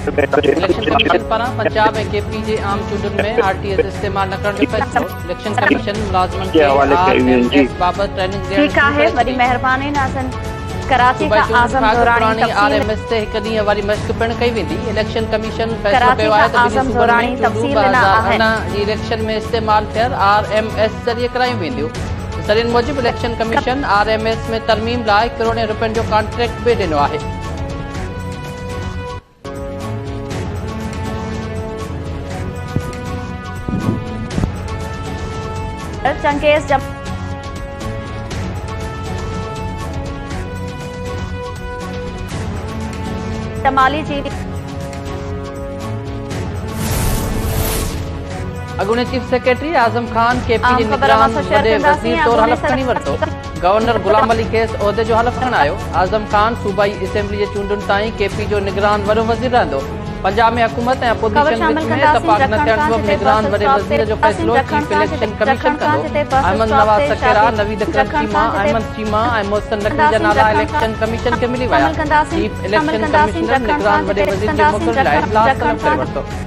Election commission پاران Punjab ۽ K P جي عام چونڊن ۾ آر ٽي ايس استعمال نه ڪرڻ جو فيصلو، اليڪشن ڪميشن ملازمن کي آر ايم ايس بابت ٽريننگ ڏيڻ شروع ڪري ڇڏي. صوبائي چونڊن کان اڳ پراڻي آر ايم ايس تي هڪ ڏينهن واري مشق پڻ ڪئي ويندي، اليڪشن ڪميشن فيصلو ڪيو آهي ته ٻنهي صوبن ۾ چونڊون ٻه هزار ارڙهن جي اليڪشن ۾ استعمال ٿيل آر ايم ايس ذريعي ڪرايون وينديون. ذريعن موجب election commission R M S ۾ ترميم لاء ڪروڙين رپين جو ڪانٽريڪٽ به ڏنو آهي چنگيز جم جمالي جي اڳوڻي chief secretary Azam Khan K P جي نگران وڏي وزير طور حلف کڻي ورتو، گورنر غلام علي کيس عهدي جو حلف کڻايو، اعظم خان صوبائي اسيمبلي جي چونڊن تائين ڪي پي جو نگران وڏو وزير رهندو، پنجاب ۾ حڪومت ۽ اپوزيشن وچ ۾ اتفاق نه ٿيڻ سبب نگران وڏي وزير جو فيصلو چيف اليڪشن ڪميشن ڪندو، احمد نواز سکيرا، نويد اڪرم چيما، احمد چيما ۽ محسن نقوي جا نالا اليڪشن ڪميشن کي ملي ويا، چيف اليڪشن ڪمشنر نگران وڏي وزير جي موڪل لاء اجلاس طلب ڪري ورتو.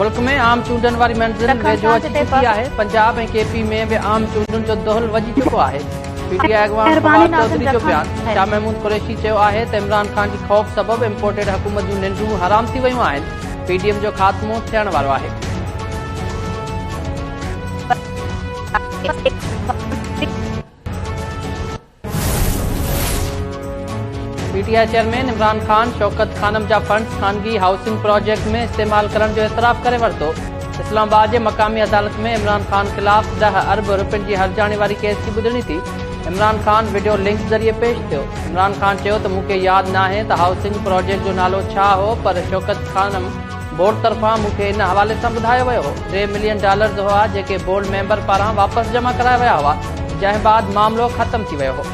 ملڪ ۾ عام چونڊن واري منزل ويجهو اچي چڪي آهي پنجاب ۽ ڪي پي ۾ به عام چونڊن جو دهل وڄي چڪو آهي پي ٽي آء اڳواڻ فواد چوڌري جو بيان شاهه محمود قريشي چيو آهي ته عمران خان جي خوف سبب امپورٽيڊ حڪومت جون ننڊون حرام ٿي ويون آهن پي ڊي ايم جو خاتمو ٿيڻ وارو آهي P T I chairman Imran Khan Shaukat Khanum جا فنڊز خانگي هائوسنگ پراجيڪٽ ۾ استعمال ڪرڻ جو اعتراف ڪري ورتو اسلام آباد جي مقامي عدالت ۾ عمران خان خلاف ڏهه ارب روپين جي هرجاڻي واري ڪيس جي ٻڌڻي ٿي عمران خان وڊيو لنڪ ذريعي پيش ٿيو عمران خان چيو ته مون کي ياد ناهي ته هائوسنگ پراجيڪٽ جو نالو ڇا هو پر شوڪت خانم بورڊ طرفان مون کي ان حوالي سان ٻڌايو ويو هو ٽي ملين ڊالرز هئا جيڪي بورڊ ميمبر پاران واپس جمع ڪرايا ويا هئا جنهن بعد معاملو ختم ٿي ويو هو.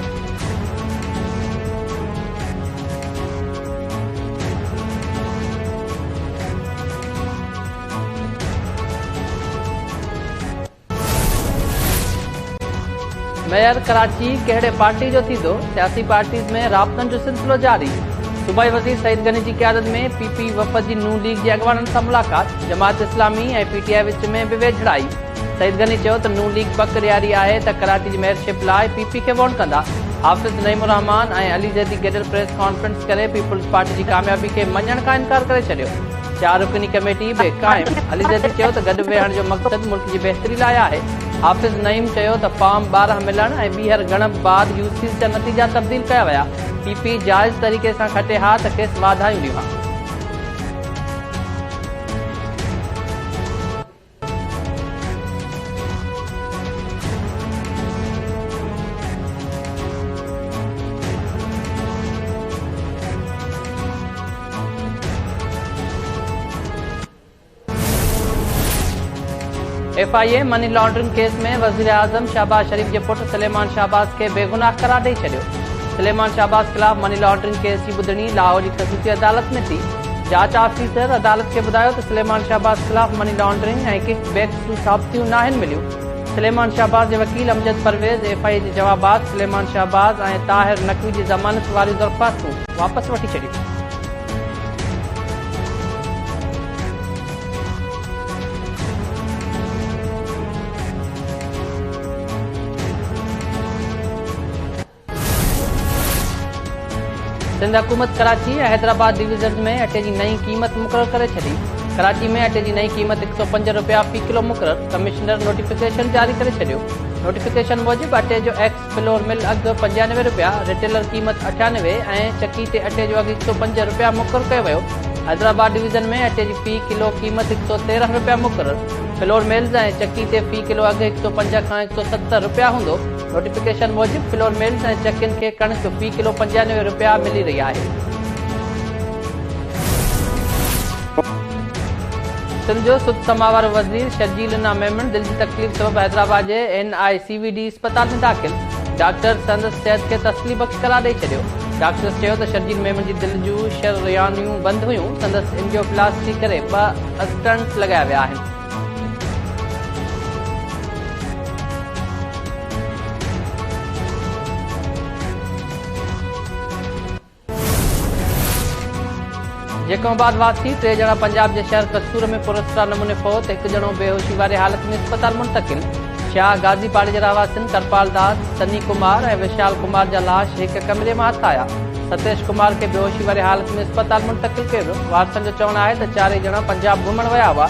ميئر ڪراچي ڪهڙي پارٽي جو ٿيندو؟ سياسي پارٽيز ۾ رابطن جو سلسلو جاري، صوبائي وزير سعيد غني جي قيادت ۾ پي پي وفد جي نون ليگ جي اڳواڻن سان ملاقات، جماعت اسلامي ۽ پي ٽي آء وچ ۾ به ويجهڙائي، سعيد غني چيو ته نون ليگ پڪ ڏياري آهي ته ڪراچي جي ميئرشپ لاء پي پي کي ووٽ ڪندا، حافظ نعيم الرحمان ۽ علي زيدي گڏيل پريس ڪانفرنس ڪري پيپلزپارٽي جي ڪاميابي کي مڃڻ کان انڪار ڪري ڇڏيو. چار رڪني ڪميٽي به قائم، علي زيدي چيو ته گڏ ويهڻ جو مقصد ملڪ جي بهتري لاء آهي، حافظ نعيم چيو ته فارم ٻارهن ملڻ ۽ ٻيهر ڳڻپ بعد يو سيز جا نتيجا تبديل ڪيا ويا، پي پي جائز طريقي سان کٽي ها ته کيس واڌايون ڏيون ها. F I A money laundering case ۾ وزيراعظم شهباز شريف جي پٽ سليمان شهباز کي بيگناهه قرار ڏئي ڇڏيو سليمان شهباز خلاف مني لانڊرنگ ڪيس جي ٻڌڻي لاهور جي خصوصي عدالت ۾ ٿي جاچ آفيسر عدالت کي ٻڌايو ته سليمان شهباز خلاف مني لانڊرنگ ۽ ڪڪ بيڪس جون ثابتيون ناهن مليون. سليمان شهباز جي وڪيل Amjad Pervaiz F I A جي جواب بعد سليمان شهباز ۽ طاهر نقوي جي ضمانت واريون درخواستون واپس وٺي ڇڏيون. سنڌ حڪومت ڪراچي ۽ حيدرآباد ڊويزنز ۾ اٽي جي نئين قيمت مقرر ڪري ڇڏي، ڪراچي ۾ اٽي جي نئين قيمت هڪ سؤ پنج رپيا في ڪلو مقرر، ڪمشنر نوٽيفڪيشن جاري ڪري ڇڏيو، نوٽيفڪيشن موجب اٽي جو ايڪس فلور مل اگهه پنجانوي رپيا، ريٽيلر قيمت اٺيانوي ۽ چڪي تي اٽي جو اگهه هڪ سؤ پنج رپيا مقرر ڪيو ويو، حيدرآباد ڊويزن ۾ اٽي جي في ڪلو قيمت هڪ سؤ تيرنهن رپيا مقرر، فلور ملز ۽ چڪي تي في ڪلو اگهه هڪ سؤ پنج کان هڪ سؤ ست رپيا هوندو. نوٽيفڪيشن موجب فلور ملز ۽ چڪين کي ڪڻڪ في ڪلو پنجانوي رپيا ملي رهي آهي. سنڌ جو سڌ سماء وارو وزير شرجيل انا ميمڻ دل جي تڪليف سبب حيدرآباد جي N I C V D اسپتال ۾ داخل، ڊاڪٽرز سندس صحت کي تسلي بخش قرار ڏئي ڇڏيو. ڊاڪٽرز چيو ته شرجيل ميمڻ جي دل جون شريانيون بند هيون، سندس اينجيوپلاسٽي ڪري ٻه اسٽنٽ لڳايا ويا آهن. جيڪب آباد واسي ٽي ڄڻا پنجاب جي شهر قصور ۾ پراسرار نموني فوت هڪ ڄڻو بيهوشي واري حالت ۾ اسپتال منتقل شاهه غازي پاڙي جي رهواسين ڪرپال داس سني ڪمار ۽ وشال ڪمار جا لاش هڪ ڪمري مان هٿ آيا ستيش ڪمار کي بيهوشي واري حالت ۾ اسپتال منتقل ڪيو ويو، وارثن جو چوڻ آهي ته چارئي ڄڻا پنجاب گهمڻ ويا هئا،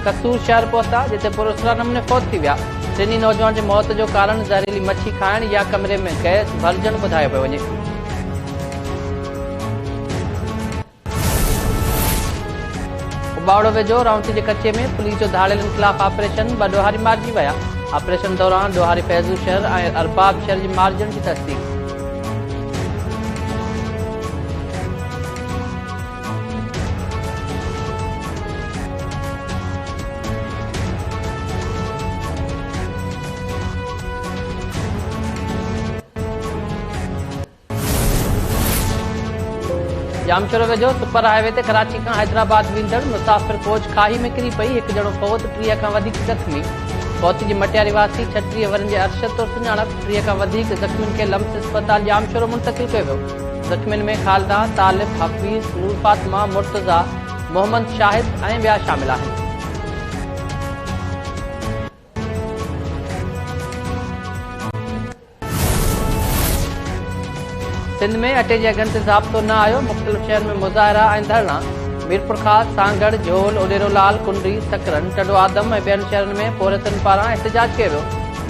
قصور شهر پهتا، جتي پراسرار نموني فوت ٿي ويا، ٽنهي نوجوان جي موت جو ڪارڻ زهريلي مڇي کائڻ يا ڪمري ۾ گئس ڀرجڻ ٻڌايو پيو وڃي. اباوڙو ويجهو رائونٽي جي ڪچي ۾ پوليس جو ڌاڙيلن خلاف آپريشن، ٻه ڏوهاري مارجي ويا، آپريشن دوران ڏوهاري فيضو شهر ۽ ارباب شهر جي مارجڻ جي تصديق. ڄامشورو ويجهو سپر هاء وي تي ڪراچي کان حيدرآباد ويندڙ مسافر ڪوچ کاهي ۾ ڪري پئي هڪ ڄڻو فوت ٽيهه کان وڌيڪ زخمي فوت جي مٽياري واسي ڇٽيهه ورهين جي ارشد طور سڃاڻپ ٽيهه کان وڌيڪ زخمين کي لمس اسپتال ڄام شورو منتقل ڪيو ويو، زخمين ۾ خالده، طالب، حفيظ، نور فاطمه، مرتضيٰ، محمد شاهد ۽ ٻيا شامل آهن. سنڌ ۾ اٽي جي اگهن تي ضابطو نه آيو، مختلف شهرن ۾ مظاهرا ۽ ڌرڻا، ميرپورخاص، سانگهڙ، جهول، اڏيرولال، ڪنري، سڪرن، ٽنڊوآدم ۽ ٻين شهرن ۾ پورهيتن پاران احتجاج ڪيو ويو،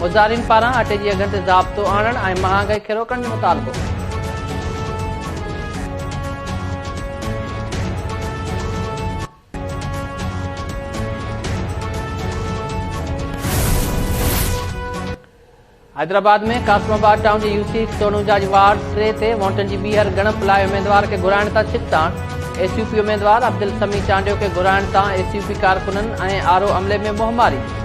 مظاهرين پاران اٽي جي اگهن تي ضابطو آڻڻ ۽ مهانگائي کي روڪڻ جو مطالبو. حيدرآباد ۾ قاسم آباد ٽائون جي يوسي سونوجا جي وارڊ ٽي تي وونٽن جي ٻيهر ڳڻپ لاء اميدوار کي گهرائڻ تان ڇڪتاڻ، ايس يو پي اميدوار عبدالسميع چانڊيو کي گهرائڻ تان ايس يو پي ڪارڪنن ۽ آر او عملي ۾ منهنماري.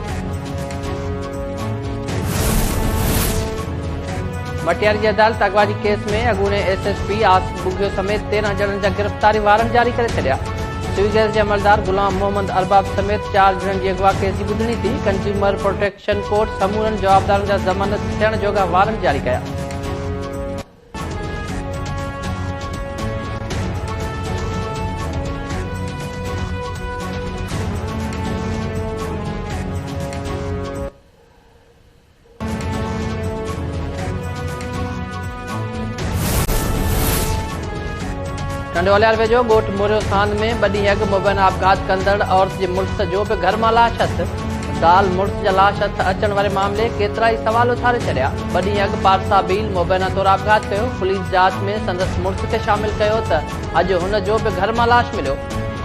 مٽياري جي عدالت اغوائي ڪيس ۾ اڳوڻي S S P Asif Bughio سميت تيرهن ڄڻن جا گرفتاري وارنٽ جاري ڪري ڇڏيا سول گئس جي عملدار غلام محمد ارباب سميت چار ڄڻن جي اغوا ڪيس جي ٻڌڻي ٿي ڪنزيومر پروٽيڪشن ڪورٽ سمورن جوابدارن جا ضمانت ٿيڻ جوڳا وارنٽ جاري ڪيا ٽنڊوالهيار ويجهو ڳوٺ موريوسان ۾ ٻه ڏينهن اڳ مبينا آپگهات ڪندڙ عورت جي مڙس جو به گهر مان لاش هٿ، زال مڙس جا لاش هٿ اچڻ واري معاملي ڪيترائي سوال اٿاري ڇڏيا. ٻه ڏينهن اڳ پارسا بيل مبينا طور آپگهات ڪيو، پوليس جاچ ۾ سندس مڙس کي شامل ڪيو ته اڄ هن جو به گهر مان لاش مليو.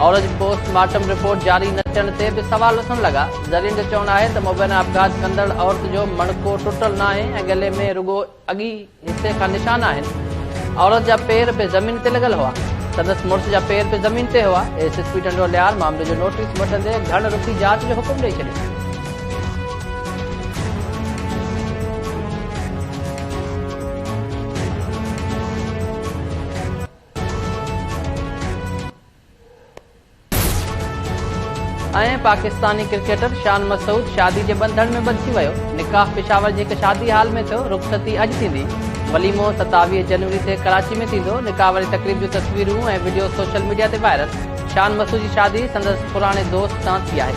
اورنج پوسٽ مارٽم رپورٽ جاري نه ٿيڻ تي به سوال اٿڻ لڳا، ذريعن جو چوڻ آهي ته مبينا آپگهات ڪندڙ عورت جو مڻڪو ٽٽل ناهي ۽ ڳلي ۾ رڳو اڳئين حصي کان نشان آهن، عورت جا پير به زمين تي لڳل هئا، سندس مڙس جا پير به زمين تي هئا، S S P Tando Allahyar معاملي جو نوٽيس وٺندي گهڻ رخي جاچ جو حڪم ڏئي ڇڏيو. ۽ پاڪستاني ڪرڪيٽر شان مسعود شادي جي ٻنڌڻ ۾ ٻڌجي ويو، نڪاح پشاور جي هڪ شادي هال ۾ ٿيو، رخصتي اڄ ٿيندي، وليمو ستاويهه جنوري تي ڪراچي ۾ ٿيندو، نڪاح واري تقريب جون تصويرون ۽ وڊيو سوشل ميڊيا تي وائرل، شان مسعود جي شادي سندس پراڻي دوست سان ٿي آهي.